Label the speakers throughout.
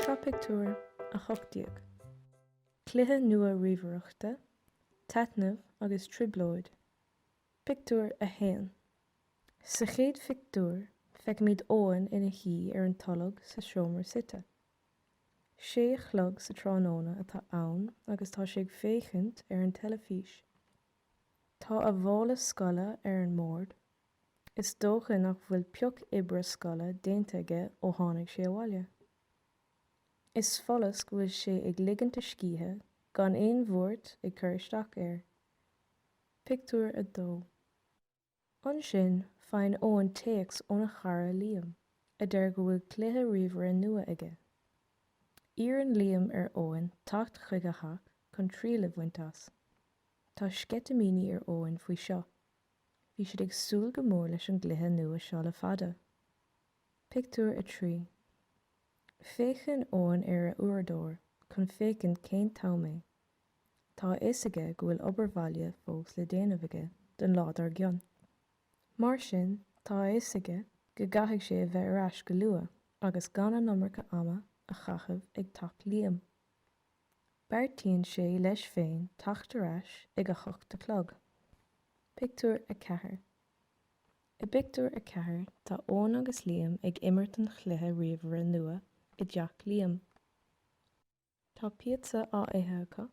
Speaker 1: Seo pictiúr a hocht déag. Cluiche nua ríomhaireachta, taitneamh agus trioblóid. Pictiúr a haon. Sa chéad phictiúr, feicimid Eoin ina shuí ar an tolg sa seomra suite. Sé a chlog sa tráthnóna atá ann agus tá sé ag féachaint ar an teilifís. Tá a mhála scoile ar an mbord. Is dócha nach bhfuil pioc oibre scoile déanta aige ó tháinig sé abhaile. Is follas go bhfuil sé ag ligint a scíthe gan aon bhuairt ag cur isteach air. Pictiúr a 2 Ansin, faigheann Eoin téacs óna chara Liam, a deir go bhfuil cluiche ríomhaire nua aige. Iarrann Liam ar Eoin teacht chuig a theach chun triail a bhaint as. Tá sceitimíní ar Eoin faoi seo. Bhí siad ag súil go mór leis an gcluiche nua seo le fada. Pictiúr a 3 Féachann Eoin ar a uaireadóir chun féachaint cén t-am é. Tá a fhios aige go bhfuil obair bhaile fós le déanamh aige don lá dár gcionn. Mar sin, tá a fhios aige go gcaithfidh sé a bheith ar ais go luath agus gan an iomarca ama a chaitheamh ag teach Liam. Beartaíonn sé leis féin teacht ar ais ag a hocht a chlog. Pictiúr a 4 I bpictiúr a ceathair tá Eoin agus Liam ag imirt an chluiche ríomhaire nua i dteach Liam. Tá píotsa á ithe acu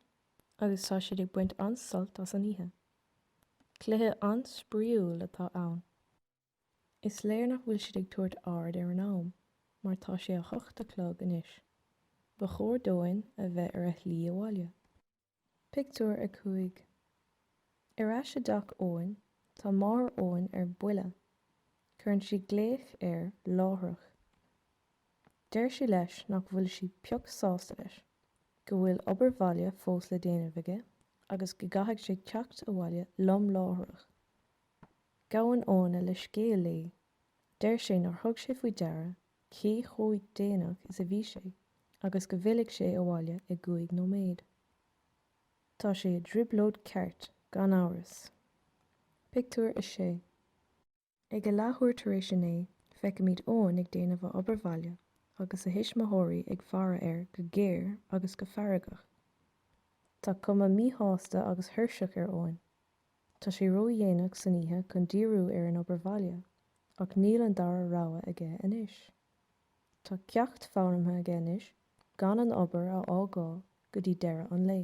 Speaker 1: agus tá siad ag baint an-sult as an oíche. Cluiche an-spraíúil atá ann. Is léir nach bhfuil siad ag tabhairt aird ar an am, mar tá sé a hocht a chlog anois. Ba chóir d'Eoin a bheith ar a shlí abhaile. Pictiúr a 5 Ar ais i dteach Eoin, tá máthair Eoin ar buile. Cuireann sí glaoch air láithreach. Deir sí leis nach bhfuil sí pioc sásta leis, go bhfuil obair bhaile fós le déanamh aige agus go gcaithfidh sé teacht abhaile lom láithreach. Gabhann Eoin leithscéal léi. Deir sé nár thug sé faoi deara cé chomh déanach is a bhí sé agus go bhfillfidh sé abhaile i gcúig nóiméad. Tá sé i dtrioblóid ceart, gan amhras. Pictiúr a 6 Ag a leathuair tar éis a naoi, feicimid Eoin ag déanamh a obair bhaile agus a thuismitheoirí ag faire air go géar agus go feargach. Tá cuma míshásta agus thuirseach ar Eoin. Tá sé ró-dhéanach san oíche chun díriú ar an obair bhaile, ach níl an dara rogha aige anois. Tá ceacht foghlamtha aige anois, gan an obair a fhágáil go dtí deireadh an lae.